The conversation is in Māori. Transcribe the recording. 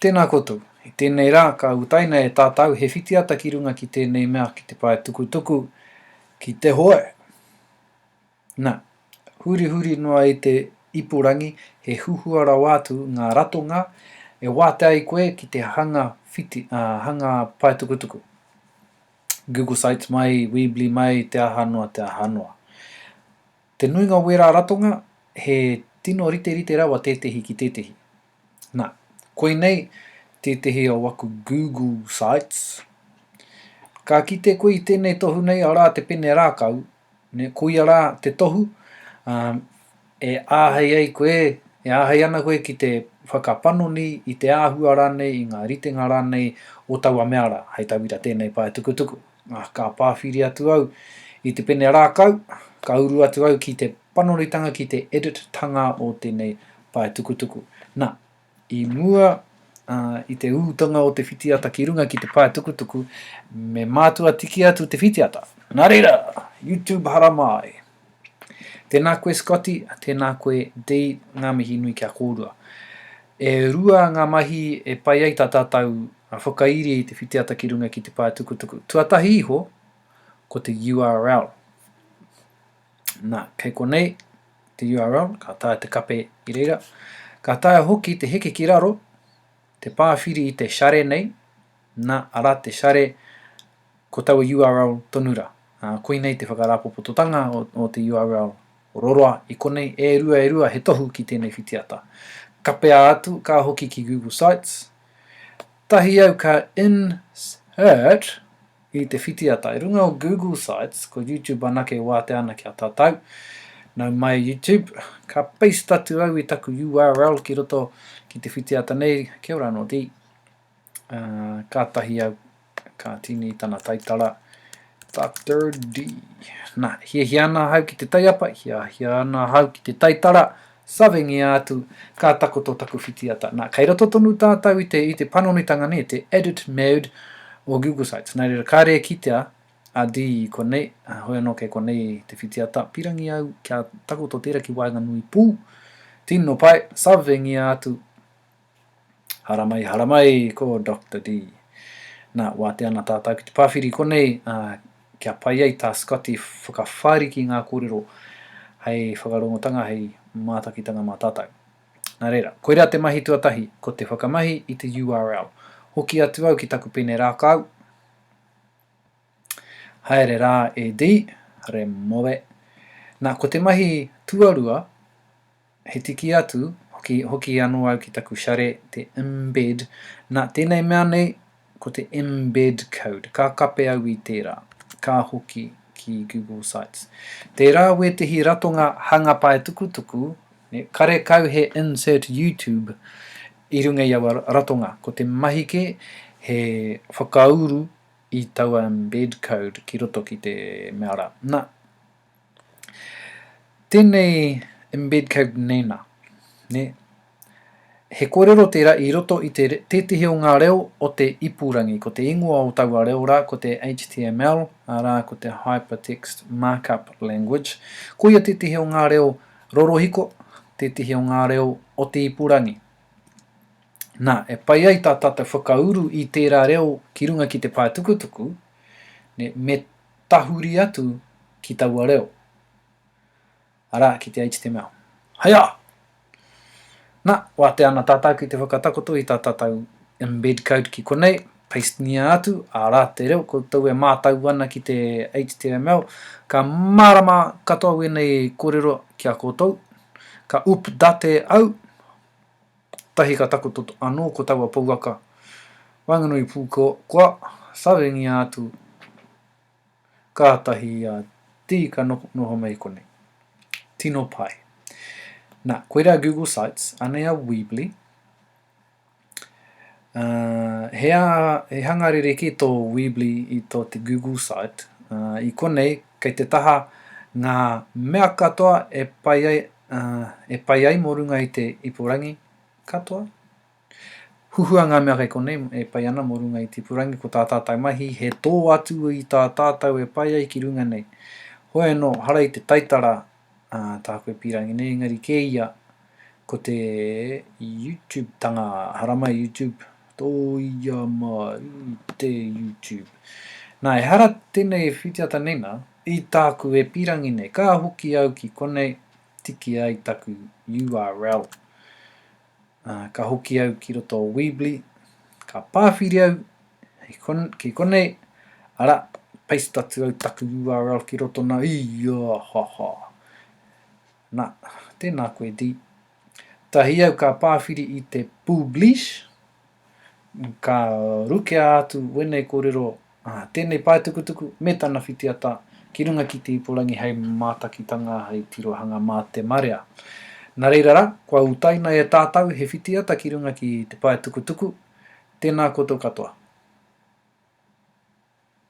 Tēnā koutou. I tēnei rā, ka utaina e tātau he whitiata ki runga ki tēnei mea, ki te pae tukutuku, ki te hoe. Na, hurihuri noa i te ipurangi, he huhua rawa atu ngā ratonga e wātea ai koe ki te hanga whiti, ā, hanga pae tukutuku. Google Sites mai, Weebly mai, te aha noa, te aha noa. Te nuinga o wērā ratonga, he tino riterite rawa tētehi ki tētehi. Nā, koinei tētehi o aku Google Sites. Ka kite koe i tēnei tohu nei, arā te pene rākau, nē, koia rā te tohu, ā, e āhei ai koe, e āhei ana koe ki te whakapanoni i te āhua rānei, i ngā ritenga rānei o taua mea rā, hei tauira tēnei paetukutuku. Ah, ka pāwhiri atu au i te pene rākau, ka uru atu au ki te panoritanga ki te edit tanga o tenei paetukutuku. Na, i mua ah, i te utanga o te whitiata ki runga ki te paetukutuku, me mātua tiki atu te whitiata. Na reira, YouTube hara māi! Tēnā koe Scotty, tēnā koe Dee, ngā mihi nui ki a kōrua. E rua ngā mahi e pai ai tā tātou a whakairi i te whitiata ki runga ki te pae tukutuku. Tuatahi iho, ko te URL. Nā, kei konei te URL, ka taea te kape i reira. Ka taea hoki te heke ki raro, te pāwhiri i te share nei, nā, arā te share, Ko taua url tonu ra. A, koinei te whakarāpopototanga o te url roroa i konei, e rua e rua he tohu ki tēnei whitiata. Kapea atu, ka hoki ki Google Sites. Tahi au ka insert i te whitiata. I runga o Google Sites, ko YouTube anake e wātea ana ki a tātou. Nau mai YouTube, ka paste atu au i taku url ki roto ki te whitiata nei, kia ora anō, Dee. A, kātahi au Ka tīni tana taitara tā Third D. Nā, hiahia ana ahau ki te taiapa, hiahia ana ahau ki te taitara, savengia atu, ka takoto taku whitiata. Nā, kei roto tonu tātou i te, i te panonitanga nei, te edit mode o Google Sites. Nā reira, kāre e kitea a D i konei, ā, hoi anō kei konei te whitiata, pirangi au kia takoto tērā ki waenganui pū, tino pai, savengia atu, Haramai, haramai, ko Doctor Dee. Na, wātea ana tātau ki te pāwhiri konei, ā, kia pai ai tā Scott i whakawhāriki ngā kōrero hei whakarongotanga, hei mātakitanga mā tātau. Na reira, koirā te mahi tuatahi, ko te whakamahi i te URL. Hoki atu au ki taku pene rākau. Haere rā e Dee, remove. Na, ko te mahi tuarua, He tiki atu, hoki, hoki ano au ki taku share, te embed, na, tenei mea nei, ko te embed code, ka kape au i tera, ka hoki ki Google Sites. Tera wetehi ratonga hanga paetukutuku, ne, karekau he insert YouTube i runga i aua ratonga, ko te mahi ke, he whakauru i taua embed code ki roto ki te mea ra. Na. Tēnei embed code nēnā, nē? He kōrero tērā i roto i te, tētehi o ngā reo o te ipurangi, ko te ingoa o taua reo rā ko te HTML, arā, ko te Hypertext Markup Language. Koia tētehi o ngā reo rorohiko, tētehi o ngā reo o te ipurangi. Nā, e pai ai tā tātou whakauru i tērā reo ki runga ki te paetukutuku, nē, me tahuri atu ki taua reo, arā, ki te HTML. Haia! Na, wātea ana tātou ki te whakatakoto i tā tātou embed code ki konei, pastengia atu, arā, te reo koutou e mātau ana ki te HTML, ka mārama katoa wēnei kōrero ki a koutou, ka update au, Tahi ka takoto anō ko taua pouaka waenganui pū kua sawengia atu kātahi a Tī ka noho mai konei. Tino pai. Nā, koirā Google Sites, anei a Weebly. Uh, he, a, he hanga ririki tō Weebly i tō te Google Site. Uh, I konei, kei te taha ngā mea katoa e pai ai Ā, e pai ai mō runga i te ipurangi katoa. Huhua ngā mea kei konei e pai ana mō runga i te ipurangi ko tā tātou mahi he tō atu i tā tātou e pai ai ki runga nei. Hoi anō, hara i te taitara ā tāku e pīrangi nei engari kē ia ko te Youtube-tanga, hara mai Youtube. Tōia mā i te YouTube. Nā, ehara tēnei e whitiata nei nā, i tāku e pīrangi nei, ka hoki au ki konei, tiki ai taku URL. Ā, ka hoki au ki roto o Weebly, ka pāwhiri au hei kon, ki konei, ara, paste atu au taku URL ki roto nā, i, ā, ha, ha. Na, tēnā koe Dee. Tahi au ka pāwhiri i te Pūblish, ka rukea atu wēnei kōrero, ah, tēnei paetukutuku me tana whitiata ki runga ki te ipurangi hei mātakitanga, hei tirohanga mā te marea. Na reira rā, kua utaina e tātau he whitiata ki runga ki te paetukutuku, tēnā koutou katoa.